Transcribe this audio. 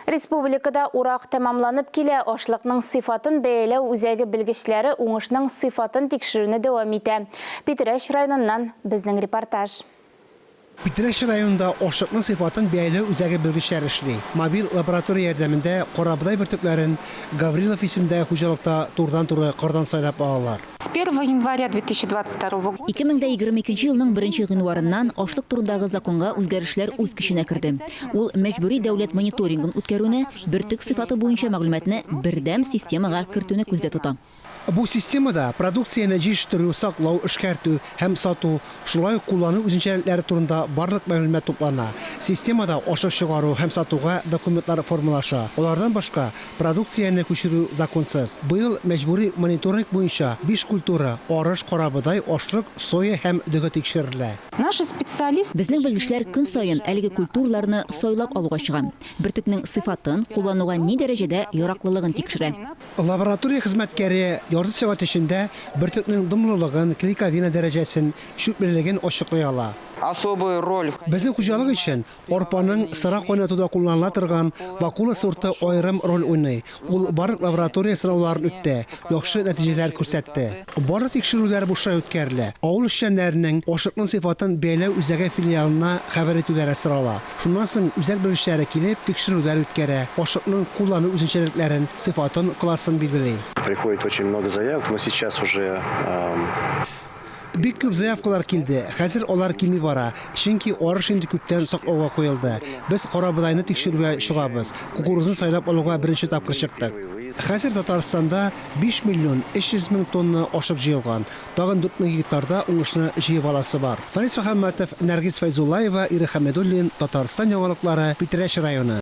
Республикада урак тәмамланып килә, ашлыкның сыйфатын бәяләү үзәге белгечләре уңышның сыйфатын тикшерүне дәвам итә. Питрәч районыннан безнең репортаж. Питрәч районында ашлыкның сыйфатын бәяләү үзәге белгечләре эшли. Мобиль лаборатория ярдәмендә карабодай бөртекләрен Гаврилов исемендәге хуҗалыкта турыдан-туры кырдан сайлап алалар. С первого января две тысячи двадцать второго года. 2022 елның 1 гыйнварыннан ашлык турындагы законга үзгәрешләр үз көченә керде. Ул мәҗбүри дәүләт мониторингын үткәрүне, бөртек сыйфаты буенча мәгълүматны бердәм системага кертүне күздә тота. Бу системада продукцияне җитештерү, саклау, эшкәртү һәм сату, Шулай ук куллану үзенчәлекләре турында барлык мәгълүмат туплана. Системада ашык чыгару һәм сатуга документлар формалаша. Алардан башка, продукцияне күчерү законсыз. Быел мәҗбүри мониторинг буенча биш культура, арыш, карабодай, ашлык, соя һәм дөге тикшерелә. Наши специалисты. Безнең белгечләр көн саен әлеге культураларны сайлап алуга чыга. Бөртекнең сыйфатын, куллануга ни дәрәҗәдә яраклылыгын тикшерә. Лаборатория хезмәткәре ярты сәгать эчендә бөртекнең дымлылыгын, клейковина дәрәҗәсен, чүплелеген ачыклый ала. Особую роль в. Безнең хуҗалык өчен арпаның сыра кайнатуда кулланыла торган Вакула сорты аерым роль уйный, ул барлык лаборатория сынауларын үтте, яхшы нәтиҗәләр күрсәтте. Барлык тикшерүләр бушлай үткәрелә. Авыл эшчәннәренең ашлыкның сыйфатын бәяләү үзәге филиалына хәбәр итүләре сорала. Шуннан соң үзәк белгечләре килеп, тикшерүләр үткәрә, ашлыкның куллану үзенчәлекләрен, сыйфатын, классын билгели. Приходит очень много заявок, но сейчас уже. Бик күп заявкалар килде. Хәзер алар кими бара, чөнки арыш инде күптән саклауга куелды. Без карабодайны тикшерүгә чыгабыз. Кукурузны сайлап алуга беренче тапкыр чыктык. Хәзер Татарстанда Биш миллион өч йөз мең тонна ашык җыелган. Тагын дүрт мең гектарда уңышны җыеп аласы бар. Фарис Мөхәммәтов, Нәргиз Фәйзуллаева, Ирек Хәмидуллин, Татарстан яңалыклары, Питрәч районы.